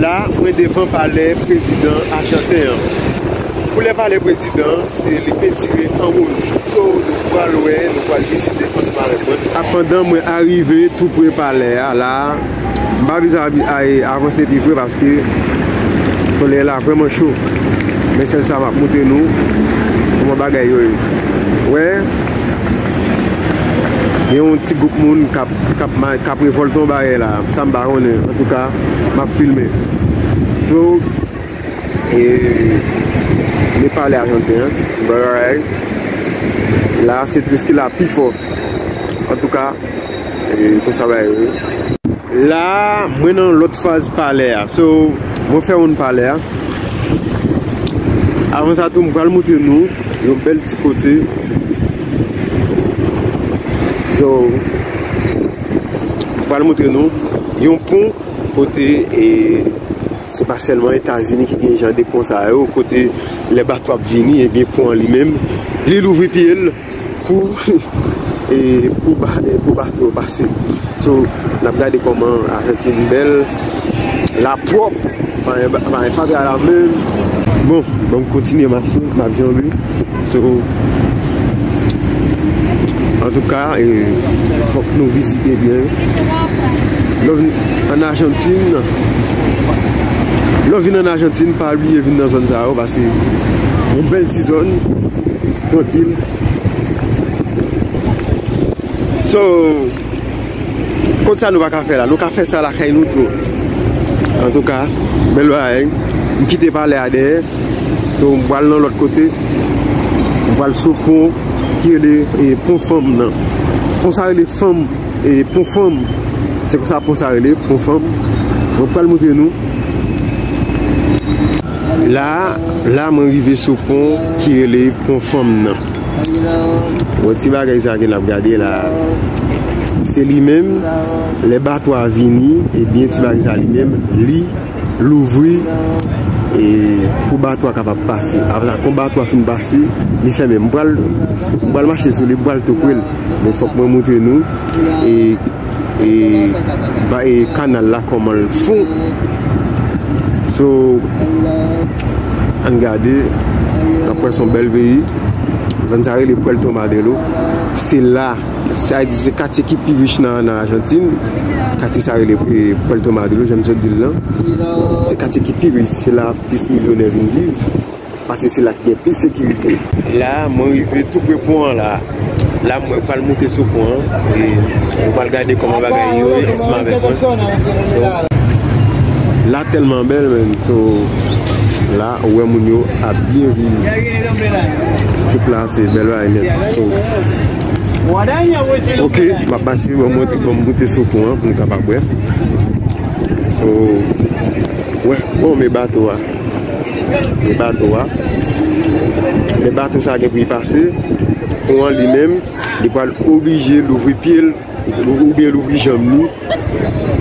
La mwen devan palè prezidan ajanten an. Koulè palè prezidan an se li pentire an wouj. So nou pral wè, nou pral vizite ansanm avèk mwen. Pandan mwen arive tou pre palè a la, m pa vle avanse pi pre paske solèy la vrèman cho. Men sèl sa m ap montre nou kouman bagay yo ye. Ou wè, gen yon ti gwoup moun k ap revòlte yon bagay la, sa m pa konnen antouka. Map filme sou e li pale ak yon ten baray la se tris ki la pi fò antouka e konsa bagay yo ye. La mwen nan yon lòt faz pale a so mwen fè yon pale a avan sa tou m pral moutre nou yon bèl ti kote so m pral moutre nou Yon pon kote se pa sèlman Etazini ki gen jan de pon sa yo, kote lè bato ap vini, ebyen pon an li menm, li louvri pye l pou bato yo pase. So, n ap gade kòman Ajantin bèl, la pwòp, pa gen fatra la menm. Bon, banm kontinye mache, m ap janbe. So, antouka, fòk nou vizite byen. Lè w vin an Ajantin, lè w vin an Ajantin, pa bliye vin nan zòn sa yo, pase yon bèl ti zòn, trankil. So, kont sa nou pa ka fè la, nou ka fè sa lakay nou tou. Antouka, bèl bagay, m kite palè a dèyè. So m pral nan lòt kote. M pral sou pon ki rele pon fanm nan. Pon sa rele fanm e pon fanm. Se kon sa pon sa rele pon fanm. Bon m pral moutre nou. La, la mwen rive sou pon ki rele pon fanm nan. Bon ti bagay sa ke n ap gade la. Se li menm. Le batwa vini, e byen ti bagay sa li menm. Li. louvri e pou bato a kapab pase apre sa kon bato a fin pase li fèmen m pral m pral mache sou li m pral tou pre l men fòk mwen moutre nou e e ba e kanal la kòman l fon so ann gade anpwen son bèl peyi zòn sa rele pwèlto madrilo se la Sa di se katye ki pi rich nan Ajantin. Katye sa rele Puerto Madero, janm sot di l lan. Se katye ki pi rich, se la plis milyonè vin viv. Pase se la ki gen plis sekirite. La, mwen rive tou pre pon an la. La mwen pral moute sou pon an. E mwen pral gade kòman bagay yo ye ansanm avèk mwen. La tèlman bèl menn. So, la. Ou wè moun yo ap byen viv. Trip la se bèl bagay nèt. Ok m ap mache m ap moute sou pon an pou m kapab wè. So wè bon men bato a. Men bato a. Men bato sa gen pou li pase. Pon an li menm li pral oblije louvri pye l. Ou byen louvri janm ni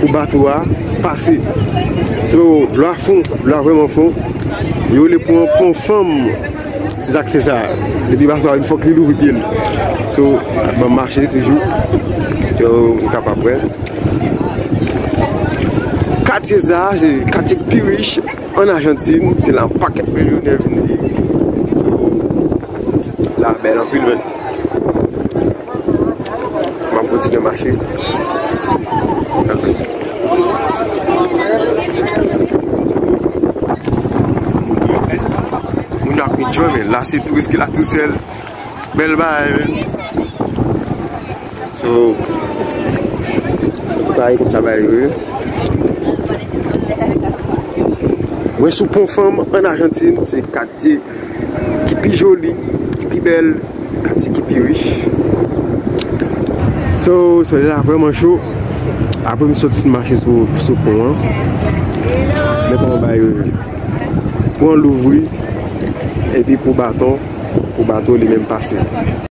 pou bato a pase. So dlo a fon, dlo a vreman fon. Yo rele pou an pon fanm. Se sak fe sa. Depi bato a vin fok li louvri pye l. So banm mache toujou. So ou ka pa pre. Katye sa a se katye ki pi rich an Ajantin. Se la paket milyonè vin viv. So la bel anpil men. Map kontinye mache. Moun ap enjoy men. La se touris ki la tou sel. Bel bay men. So. An tou ka e kon sa bay yo. Mwen sou pon fanm an Argentine. Se katye. ki pi joli, ki pi bèl, katye ki pi rich. So, solèy la vreman cho. Apre m sot fin mache sou pon an. Mwen pran bay yo. Pon louvri. Epi pou baton, pou bato li menm pase.